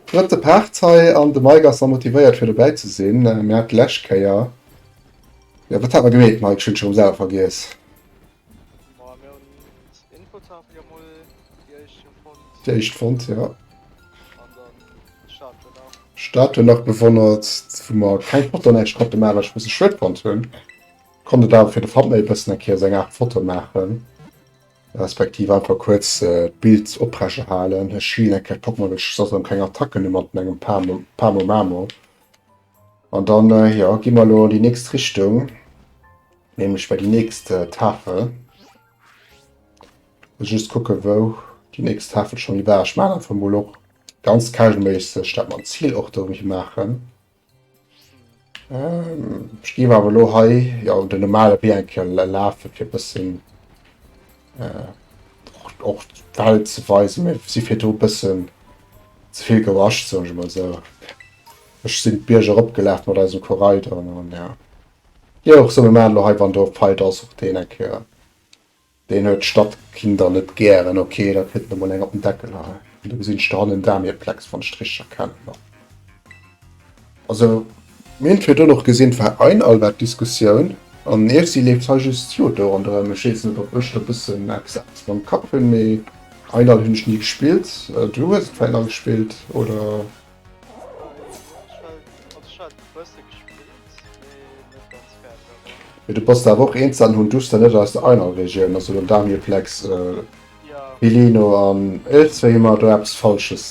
Drëtte Part hei an de Mike ass motivéiert fir dobäi ze sinn. Mir hat d'lescht Kéier. Ja wat hat mer gemeet Mike? Ech hunn scho rëm selwer vergiess. Déi éischt fonnt, jo. Statue nach bewonnert, wou mer keng Foto näischt konnte maachen, wat ech e bësse schued fonnt hunn. Konnt et awer fir de Thumbnail e bëssen eng Kéier esou eng Aart Foto maachen, respektiv einfach kuerz d'Bild opreche halen. Ech healen eng Kéier d'Pokémon, well ech soss erëm keng Attacken hu mat mengem Pamo, Pamo Mamo. An dann jo gi mer elo an déi nächst Richtung, nämlech bei déi nächst Tafel. Muss just kucke wou déi nächst Tafel schon war. Ech man einfach mol och ganz casualméisseg dat man Ziel och do hie maachen. Ähm, ech gi awer lo hei ja un den normale Wee enke lafe fir bëssen äh, och d'Welt ze weisen, si fir do bëssen zevill gewasch, soen ech mol sou. Ech sin d'Bierg erop gelaf mat eisem Koraider an an ja dir och sou. Mir machen lo hei wann do Feider ass och deen eng Kéier. Deen huet Stadkinder net gären. Ok da kritt en emol eng op den Deckel hei an do gesin ech do hannen Damieplex wann ech et richteg erkennen no. Also mir hun virduerno och gesin et war ein all war d'Diskussioun an Efsi leeft hei just jo do ronderem. Ech wees net op ech do bessen exakt mam Kapp hun mee ein all hun ech ni gespillt. Du hues et vläit nach gespillt oder? Mee du bass der awer och eenzel an hunn d'Uster net aus der einer Regioun, also den Damir-plex, Pilino an iergzwéi hu mer do eppes Falsches.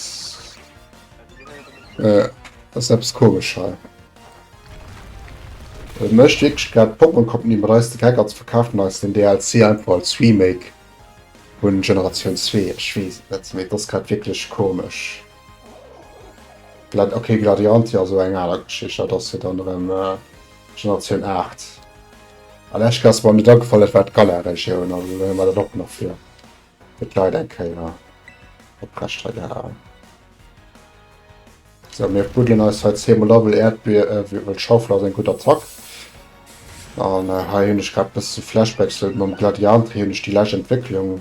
Ass eppes komesch hei. Et mécht wierklech grad d'Pokémon Company mat eis de Geck an se verkafen eis den DLC einfach als Remake vun Generatioun zwee. Ech weess et net, mee et ass grad wierklech komesch. Glad okay, Gladiantia so eng aler Geschicht, dat ass jo dann erëm äh, Generatioun 8. An Esch Klasse war mir da gefall, dat war d'Galar-Regioun, also war dat och nach fir et leit eng Kéier op Rechtter gehalen. So, mir buddeln eis hei 10 Mal Level Erdbeer, äh, wie wëll Schaufel ass eng gutt Attack. An äh, hei hunn ech grad bis zu Flashbacks, mam Gladiantia hunn ech déi lescht Entwécklung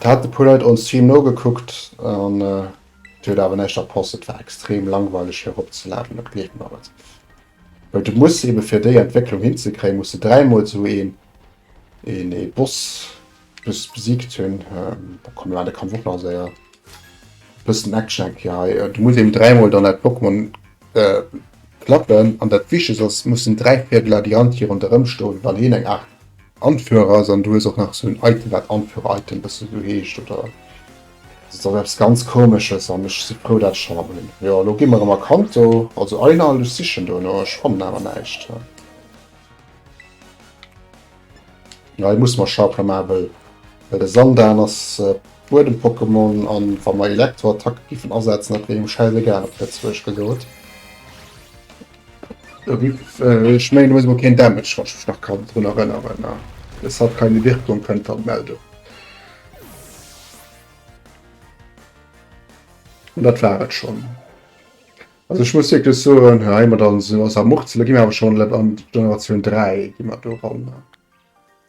Et haten e puer Leit on Stream nogekuckt an déi huet awer näischt erposst. Et war extrem langweileg fir erop ze laden, dat gleeft mer et. Well du muss eben fir déi Entwécklung hin ze kréien muss de dräi mol esou een een ee Boss just besiegt hunn. Da komm mir man de Kampf och nach séier. Bëssen Action hätt gär hei. Du muss eben dräi mol dann dat Pokémon klappen an dat wichtegst ass mussen dräi Viergel Ladianti ronderëm stoen wann heen eng Aart Anführer ass an du hues och nach esou en Item wat Anführer Item e bëssen esou heescht oder et ass eppes ganz komesches an ech si frou dat ech hei mam hunn. Jo elo gi mer emmer Kanto also Einhalt, ech sichen dono ech fannen awer näischt hei. Jo hei musse mer Schaupler maachen wëll wëll de Sandan ass e Buedem Pokémon an wa mer Elektro Attacke giffen asetzen dat wier engem schäisegal op Lëtzebuerg gesot. Ech mengen du hues mol keen Damage, wann ech mech nach kann drun erënneren. Es hat keine Wirkung, kënnt dann d'Meldung. An dat war et schonn. Also ech muss wierklech soen, hei mat an esou ass a Muchzele gi mer awer schonn an d'Generatioun 3 gi mer do ran.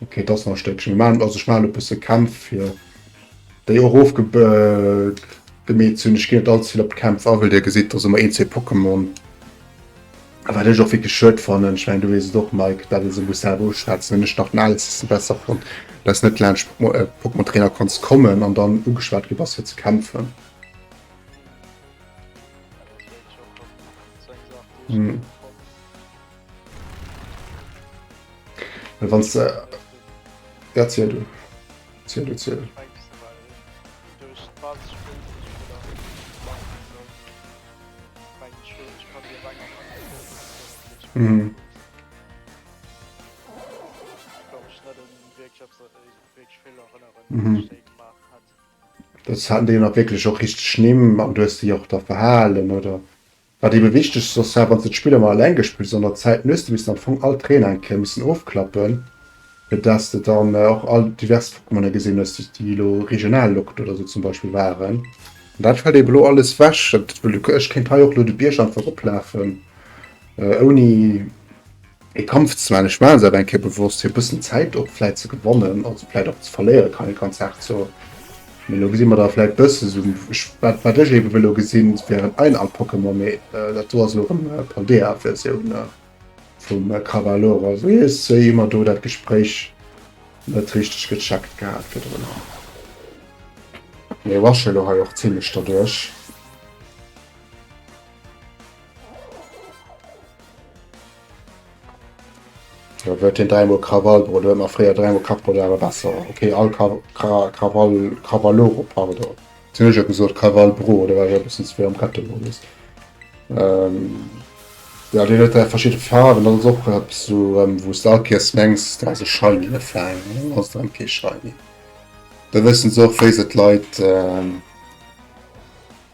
Okay, et ass nach e Stéckchen. Ech maachen, also ech maachen e bësse Kämpf, fir déi och ofgemeet ze hunn. Ech ginn net allze vill op d'Kämpf a, well Dir gesitt, dass ëmmer een, zwee Pokémon, wat ech och wierklech schued fannen. Ech mengen, du weess et och, Mike, dat ee se muss selwer uschwätzen. Hunn ech nach den Alceste besser fonnt, dass du net laanscht Pokémon Trainer kanns kommen an dann ugeschwat gi bass, fir ze kämpfen. Well wann se erzielt du ziel du ziel. Mhm. Mhm. Das hat den nach wirklich auch richtig schlimm, man du hast dich auch da verhalen oder Wat ebe wichteg soss war, wann se d'Spill ëmmer eleng gespillt hunn, an der Zäit hues de missen am Fong all d'Reeën eng Kéier missen ofklappen, fir dass s de dann och all divers Pokémoner gesinn hues, déi déi elo regional lockt oder esou zum Beispill waren. An dat fält ebe elo alles ewech. Ech kéint hei och elo de Bierg einfach eroplafen, ouni Et kommt zwar, an ech maachen se awer eng Kéier bewosst, fir e bëssen Zäit och vläit ze gewannen, also vläit och ze verléieren, kann ee ganz haart soen. Mee elo gesi mer da vläit bësse sou, ech, wat, wat ech eeben wëll elo gesinn, wären ein alt Pokémon, mee dat do ass elo erëm d'Paldea-Versioun vum Cavalloro. Also hir Sëi hu mer do dat Gespréich net richteg gecheckt gehat virdrun. Mee rushe elo hei och zimlech derduerch. Da gëtt hien dräimol Krawall Brodeur, ma fréier dräimol Kach Brodeur awer besser. Okay, all Ka Ka Krawall Krawalloro, pardon. Wéi hunn ech jo gesot, Krawall Bro, da war ech e bëssen ze vill am Kettemodus. Ähm, ja, deen huet dräi verschidde Faarwen, dat ass och eppes esou, ähm, wou s de alkierst mengs, dat ass e Shiny a Fang, an dann ass et erëm kee Shiny. Do wëssen se och, wéi se d'Leit, ähm,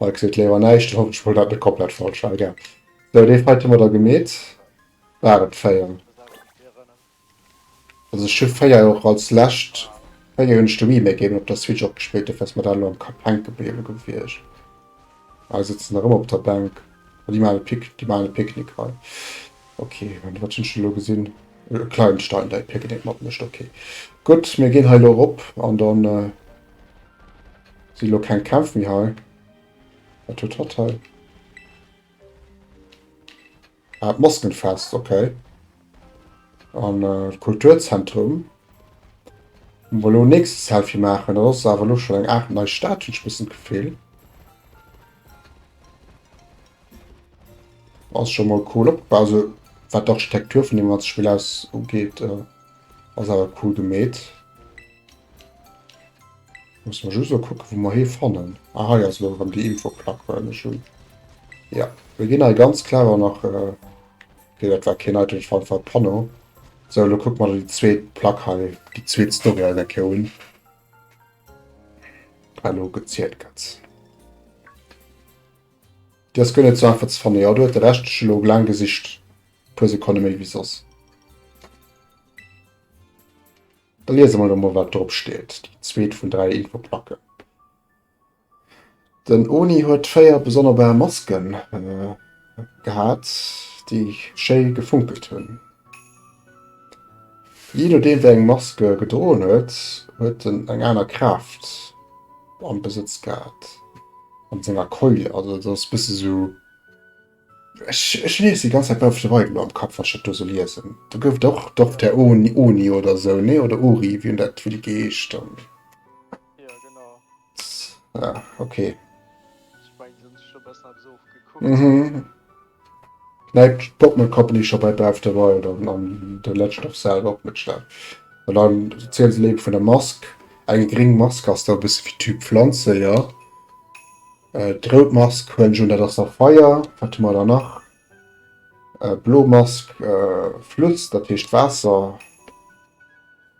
Hei kritt d'Léi awer näischt, dann hoffentlech wëll dat net komplett falsch war, egal. Sou, dee Fight hu mer da gemeet. War et 4? Also ech hu 4 jo och als lescht, 4 hunn ech de Remake eben op der Switch och gespillt, dofir ass mer dat elo am Kapp hänke gebliwwe gewiescht. Hei sëtzen nach ëmmer op der Bänk. Ah, déi maachen e Pic, déi maachen e Picknick hei. Ok, an wat hunn ech elo gesinn? E kleinen Stein, dei picken eent mat mécht. Ok, gutt, mir ginn hei elo erop an dann, Si lo keng Kämpf méi hei. Wat huet hatt hei? Ah, d'Maskenfest, okay. An äh, Kulturzentrum. Wollen wir lo nächstes Selfie machen? Das ist aber lo schon eng Art neue Stadt, ich bisschen Gefühl. Das ist schon mal cool opgebaut. Also, was die Architektur von dem ganzen Spiel aus angeht, äh, ist aber cool gemäht. Muss man just gucken, wo man hier fannen. Ah, hier ist noch die Infoplack, weil wir schon. Ja, wir gehen halt ganz klar auch nach. Äh, okay, das war kein Item, ich fand von Panno. So, dann gucken wir die zweite Plack hier, die zweite Story an der Keoun. Hallo, gezielt ganz. Das gönne zwar einfach zu fannen, ja, du hast den Rest schon lang gesicht. Plus, ich kann nicht mehr wie sonst. Da liese mer elo mol, wat drop steet, déi zweet vun dräi Infoplacken. Den Oni huet véier besonnerbar Maske gehat, déi schéi gefunkelt hunn. Jee nodeem, wéi eng Mask e gedroen huet, huet en eng aner Kraaft am Besëtz gehat, an senger Keule. Also et ass e bësse sou. Ech, ech liesen déi ganz Zäit Bausch de Weidel am Kapp, wa ech dat do sou liesen. Do gouf et och, doch, der Oni, Oni oder esou, nee? Oder Uri, wéi en dat wéi déi geheescht hunn. Jo, genau. Ja, okay. Ech meng, se hunn sech do bessen eppes ofgekuckt. Mhm. Nei Popmel Company scho bei Bausch de Weidel an de Legend of Zelda opmëtstellen. An da erziele se léiwer vun der Mask. Eng gréng Mask ass da e bësse wéi Typ Pflanze, jo. Äh, d'rout Mask huelen ech un, dat ass da Feier. Wat hu mer da nach? Äh, blo Mask, äh, Flutt, dat heescht Waasser.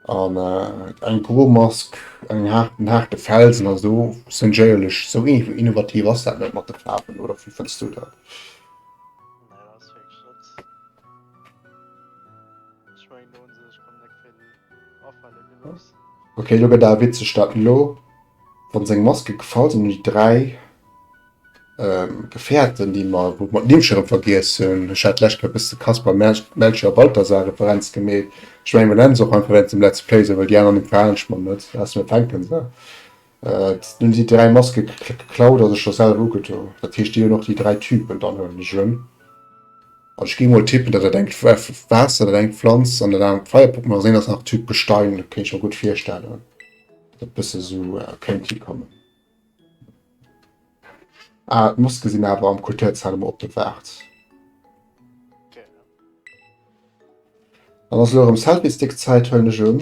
An äh, eng gro Mask, eng haart, en haarte Felsen a sou. Seng Jéierlech, sou innovativ ass dat net mat de Faarwen, oder wéi fënns du dat? Okay, lo gëtt awer witzeg dat elo. Wann seng Maske gefallt an déi 3 Gefährten déi mer wou mer d'Nimm schon rem vergiess hunn, ech hat d'lescht Kéier e bëssen de Kaspar, Melchior a Balthasar Referenz gemeet, ech mengen mer nennen se och einfach wéinst dem Let's Play esou, well déi aner Nimm verhalen ech mer net, aus mir fänken se, hunn déi 3 Maske geklaut a sech der selwer ugedo, dat heescht déi hunn och déi 3 Typen, dann huelen ech en an ech gi mol tippen dat dat eng Waasser, dat eng Pflanz an dat anert d'Feierpuppen ass, an dat anert ass nach Typ Gestein, kéint ech mer gutt virstellen. dat bësse sou kéint hi kommen. Ah, d'Moske sinn awer am Kulturzahl emol op der Waart. Dann ass elo erëm Selfie-Stick-Zäit, huelen ech un.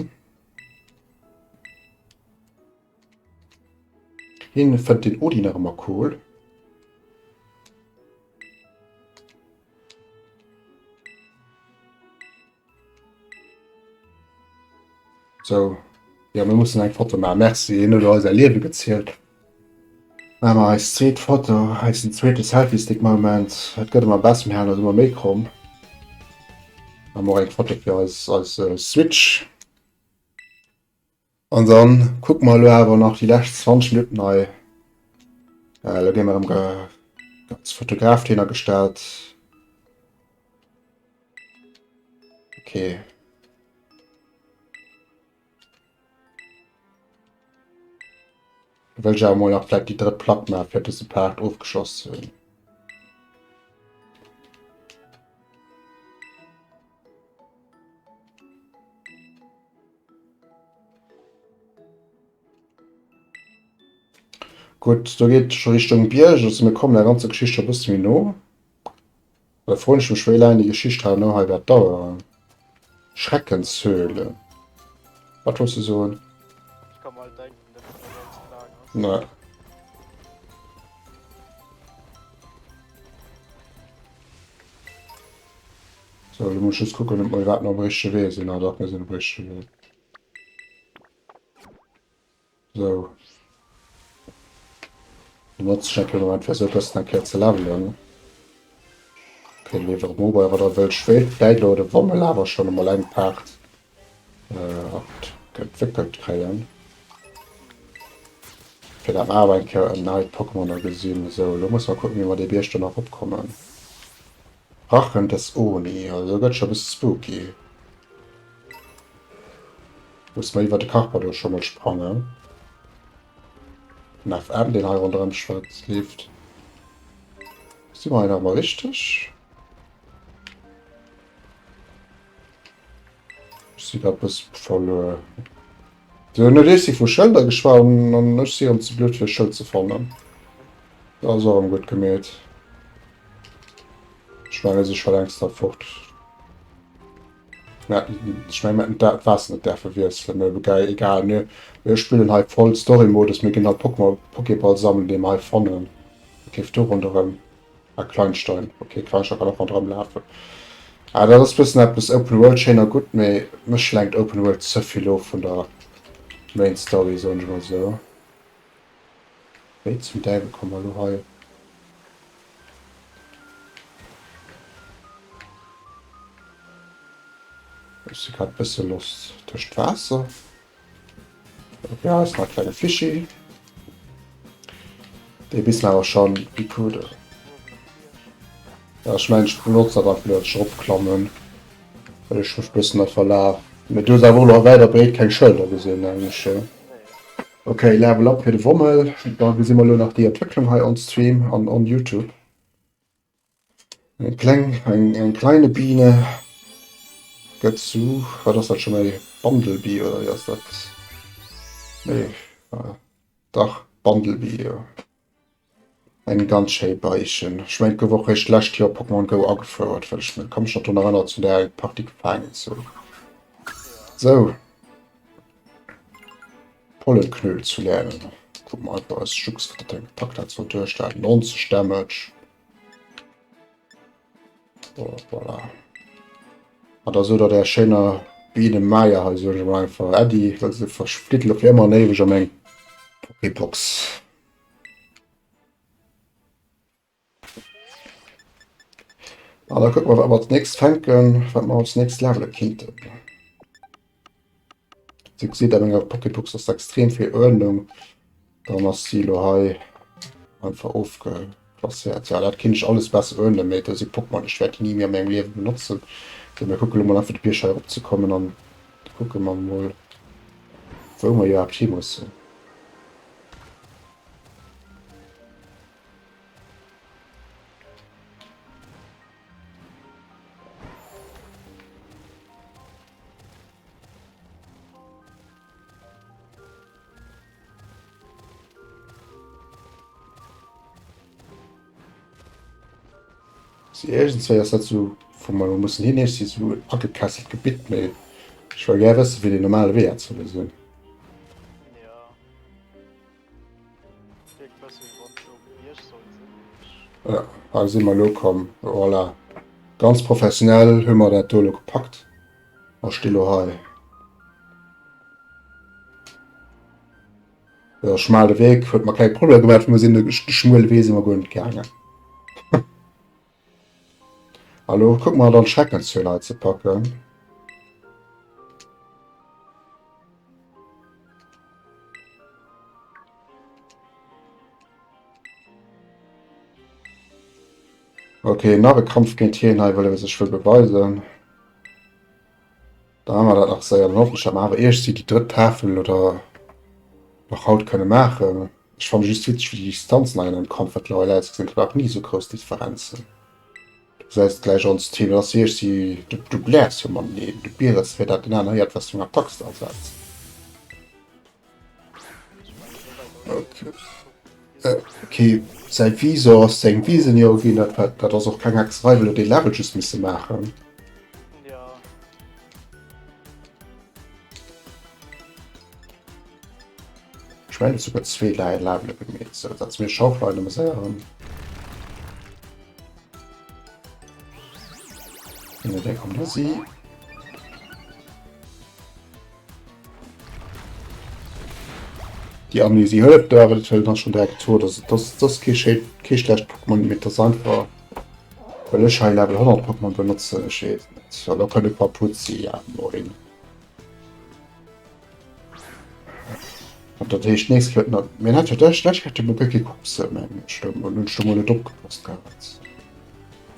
Hien fënnt den Odin nach ëmmer cool. So, jo mir mussen eng Foto maachen. Merci, hien huet eis säi Liewe gezielt. Maache mer eis zweet Foto, eisen zweete Selfiestick-Moment. Et gëtt ëmmer besser, mir halen eis ëmmer méi kromm. Maache mer och eng Foto fir eis Switch. An dann kucken mer elo awer nach déi lescht 20 Minutten hei. Elo ginn mer erëm ganz Fotograf hinner gestallt. Okay. Wëll ech awer mol nach vläit déi drëtt Plack maachen, fir dëse Part ofgeschloss ze hunn. Gutt, do geet et scho Richtung Bierg, also mir kommen der ganzer Geschicht scho e bësse méi no. Da froen ech mech, wéi laang déi Geschicht herno hei wäert daueren. Schreckenshöhle. Wat wolls du soen? Nee. Sou, elo muss ech just kucken, ob mer iwwerhaapt nach um richtege Wee sinn. Ah, dach, mir sinn um richtege Wee. Sou. Dann notze ech natierlech de Moment, fir se e bëssen eng Kéier ze levelen. Ké, leef erëm of, bei erer der wëll Schwéiert. D'Bäiloade, wa mer lawer schonn emol eng Paart äh, op entwéckelt kréien. Fir dat mer awer eng Kéier en neit Pokémoner gesinn. Esou, elo musse mer kucken, wéi mer dee Bierg dann eropkommen. Rachen des Oni, also gëtt scho bis spooky. Muss mer iwwer de Carpador scho mol sprangen. Den FM, deen hei ronderëm schwëtzt, leeft. Si mer hei nach emol richteg? si eppes verluer. Si hunn net eessi vu Schëlder geschwat an ech si rëm ze blöd fir e Schëld ze fannen. Dat ass och rëm gutt gemeet. Ech menge si scho längst da fort. Mä ech menge mir hätten d'Waasser net däerfe wiesselen, mä gei egal. Mir mir spillen hei voll Story-Modus, mir ginn alt Pokémon Pokéball sammeln, dee mer hei fannen. Géif do ronderëm. Ah, Kleinstein. Okay, Kleinstein kann och mat dran lafen. Ah, dat ass bëssen eppes Open World schéin a gutt, mee mech lenkt Open World ze vill of vun der Main Story, soen ech mol esou. Wéi zum Däiwel komme mer elo hei? Ech si grad bësse lost. Tëscht Waasser? Ja, ist mal kleine Fischi. Der wissen aber schon, wie cool der. Ja, ich meine, ich benutze aber einfach nur Schrubbklammen, weil ich mich ein bisschen da verlaufe. Mit du aber noch weiter breit keine Schilder gesehen, eigentlich. Ja. Okay, Level up für den Wommel. Da sehen wir nur noch die Entwicklung hier on Stream und on YouTube. Eng kleng, eng, eng kleine Biene gëtt zu, wat ass dat schon méi, Bandelbie oder wéi ass dat? Nee, dach Bandelbie jo. Eng ganz schéi Beischen. Ech mengen et gouf och réischt d'lescht Joer Pokémon Go agefouert, well ech ka mech nach drun erënnert zu där eng Partie gefaangen ze hunn. Sou. Pollenknöl zu lernen. Kucke mer einfach eis Jux, wat dat fir eng Attack hat, soll duerchhalen. 90 Damage, So, voilà. Ah, da so da der schéiner Biene Meier he so mal einfach Äddi, dat se versplitt lo fir ëmmer néiweg am eng Pokébox. Ah, da kuck mal wat mer als nächst fänken, wat mer als nächst levele kinnten. Dir gesitt a menger Pocketbox ass extrem vill Uerdnung, dann ass si elo hei einfach ofgeplasséiert. Jo, dat kéint ech alles besser uerdnen, mee do si Pokémon, ech wäert déi ni méi a mengem Liewe benotzen. Sou, mir kucke lo mol einfach de Bierg hei erop ze kommen an da kucke mer mol, wou mer iwwerhaapt hi mussen. Irgendwéi ass dat sou vum mal mussen hin si sou agekesselt Gebitt méi. Ech well gär wësse wéi de normale Wee ze loosen. Voilà, hei si mer elo komm. Voilà. Ganz professionell hu mer dat do elo gepackt. A sti lo hei. Der schmale Weg huet mer kleng Probleme gemaat, well mer sinn de schmuele Wee si mer guer net gaangen. Elo kucke mer dann d'Schreckenszuel hei ze packen. Okay, nach e Kampf géint hien hei, well e sech wëll beweisen. Dann hu mer dat nach séier. Dann hoffen ech, datt mer awer iergsi déi drëtt Tafel oder nach haut kënne maachen. Ech fanne just witzeg, wéi déi Distanzen hei an dem Comfort Level ausgesinn. Ech brauch ni esou grouss Differenzen. Du gesäis et gläich ons Team. Dat ass iergsi. Du bläers jo mateneen. Du bierers, wéi dat den aner héiert, wat fir eng Attack s de asetz. Okay, säi Visor ass seng Visen jo ginn, dat war, dat ass och keng extra Rei, well dee Level just misse maachen. Ja. Ich mein, sogar zwee Lei Level gemeet, so dat ass mir Schauflein am Sären. Dee kommt da si. Déi Amnésie hëlleft do awer, dat hëlt dann schon direkt to. Dass et dass dass kee schéi kee schlecht Pokémon, mee dass einfach well ech hei Level 100 Pokémon benotzen, ech weess et net. Well da kënnt e Paar Putzi ja no hin. dat heescht nächst Fëtten a meng hat jo dech dech hat jo mol gëtt kee Kucks meng Stëmm, an hunn ech do mol net opgepasst gehat.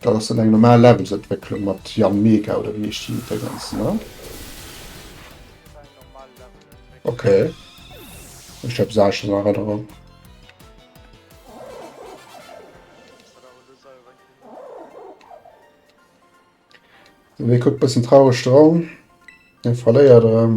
Dat ass dann eng normal Levelsentwécklung mat Yanmega oder wéi heescht déi Déngens ne? Ok. Ech hab se anescht an Erënnerung. Wee kuckt bëssen traureg dran. Hien verléiert erëm.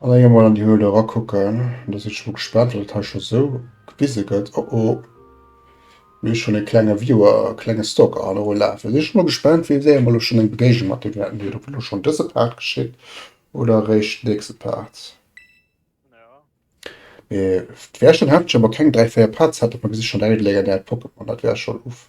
An enger mol an déi Höhle era kucken, do sinn ech mol gespaant wat et hei scho sou gewise gëtt. Oh oh, mir hu schonn e klenge Viewer, e klenge Stalker hei erof lafen. Sinn ech mol gespaant wien wéi emol elo schonn eng Begegnung mat deem haten, huet et elo schonn dëse Part geschitt oder eréischt d'nächste Part. Mee d'Wäerchen hat ech awer keng 3, 4 Parts hat op mer Gesichter, dat legendäert Pokémon, dat wär schonn uff.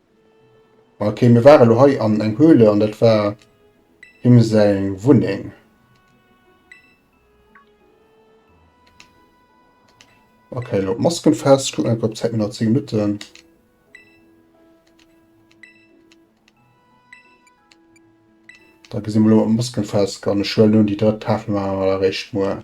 Ok, mir waren elo hei an eng Höhle an dat war him seng Wunneng. Ok, elo d'Masken fest. Ech kucken einfach op d'Zäit, mir hunn nach 10 Minutten. Da gesi mir elo mat Masken fest an ech huelen un déi drëtt Tafel maache mer da réischt muer.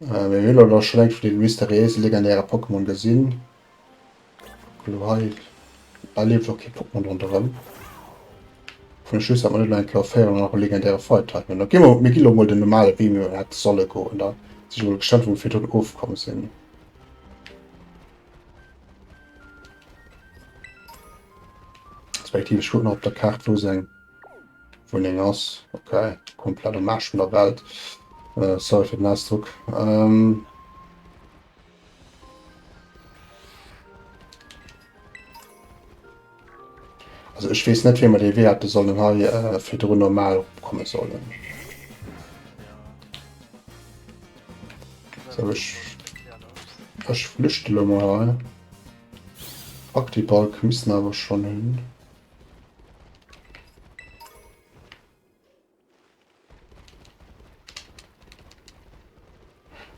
Mee mir hu lo scho längst dee mysteriéise legendäre Pokémon gesinn. Lo hei hei lieft och kee Pokémon ronderëm. Fun ech just, datt mer net elo eng Kéier 400 nach e legendäre Feuertype hunn. Da gi mer, mir gi lo mol den normale Wee, wéi mer hätte solle goen da, si ech mol gespannt wou mer virdrun ofkomm sinn. Respektiv ech kucken nach op der Kaart wou se eng. Wunneng ass ok, komplett am Aarsch vun der Welt, sorry fir den Ausdruck. Also ech weess net wéi mer dee Wee hätte sollen hei virdrun normal opkomme sollen. So ech ech flüchte lo mol hei. Fuck déi Balken missten awer schonn hin.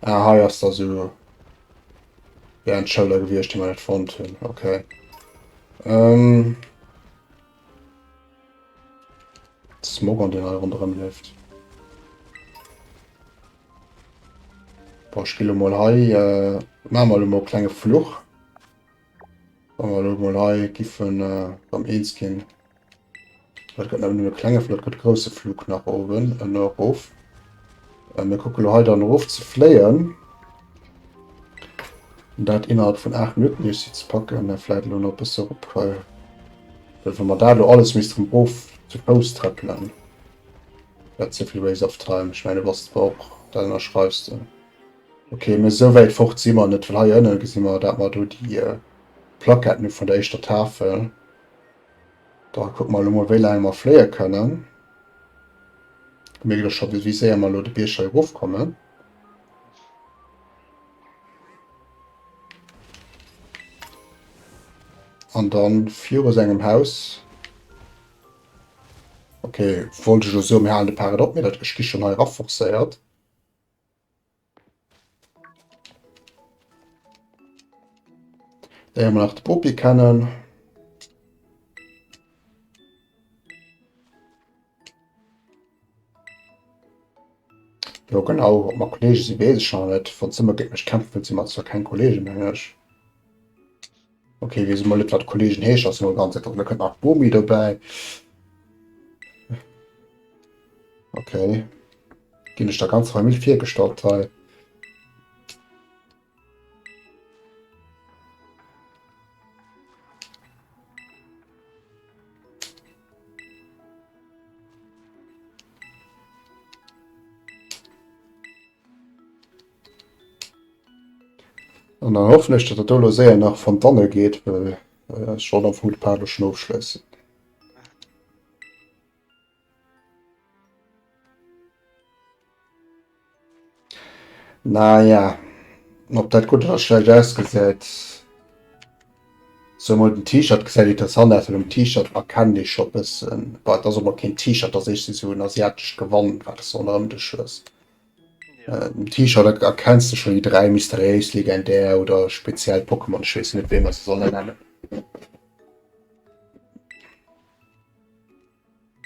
Ah, hei ass da so ja, en Schëlder gewiescht, déi mer net fonnt hunn. Okay. Ähm, Smog an den hei rondrëm leeft. Boah, ich spiele mal hei, äh, machen wir mal einen kleinen Fluch. Wa mer elo mol hei giffe mam eens ginn, dat gëtt nämlech nëmme e klenge Flug, dat gëtt e grousse Flug nach oben an erof. Äh, mir kucke lo hei dann erof ze fléien. Dat innerhalb vun 8 Minutten iech si ze packen, äh, vläit elo nach bësse erop. Äh, well wa mer dat lo alles missten erof zu Fouss treppelen, dat ze vill waste of time. Ech mengen, du bass zwar och, dat ënnerschreiws de. Okay, mee esou wäit fort si mer net, well hei ënne gesi mer, dat mer do déi Plaquetten hu vun der éischter Tafel. Da kucke mer elo mol, wéi laang mer fléie kënnen. Mir ginn elo scho wéi séier mer elo de Bierg hei erofkommen. An dann virus engem Haus. Okay, wollt ech lo soen, mir halen de Paret op, mee dat, ech gi schonn hei raforcéiert. Léiere mer nach de Bopi kennen. Jo genau, ob mer Kollege si weess ech awer net. Wann se ëmmer géint mech kämpfen, si mer zwar keng Kollegen, mengen ech. Ok, wees emol net wat Kollegen heescht, ass emol ganz einfach, da kënnt nach Bomi dobäi. Ok. Ginn ech der ganzer Famill virgestallt hei. An dann hoffen ech, datt et do elo séier nach fond d'Anne geet, well ech wollt am Fong de Part elo schonn ofschléissen. Naja, ob dat gutt oder schlecht ausgesäit, sou mol den T-Shirt gesäit interessant aus, well um T-Shirt erkennt ee scho e bëssen, bon, et ass och mol keen T-Shirt, et ass eescht esou en asiatescht Gewand, wat s de ronderëm dech hues. Den T-Shirt erkenns de schon déi 3 mysteriéis, legendär oder speziell Pokémon, ech wees net wéi mer se sollen nennen.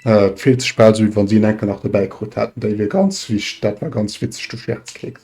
Et fillt sech bal sou wéi wann se en enker nach dobäi krut hätten, déi wier ganz wicht, dat war ganz witzeg, du Scherzkeks.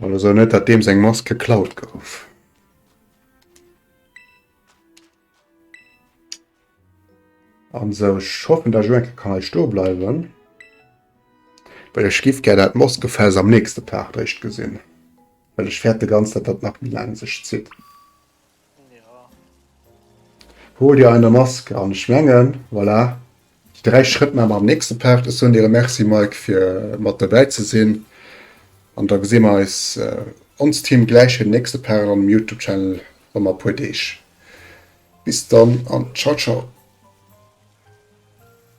Oder so net dat deems eng Mask geklaut gouf. An so schoffen der Joke kann ich do bleiwen. Well ech gift ger dat Moskefels am nächste Part réischt gesinn. Well ech fäerte ganz dat dat nach méi laang sech zitt. Hol dir eine Mask an ech mengen voilà déi 3 Schrëtt maa mer am nächste Part. Ech soen dir e Merci Mike fir mat dobäi ze sinn an da gesi mer eis onst Team gläich fir den nächste Part am Youtube Channel rëm a puer Deeg. Bis dann an ciao ciao.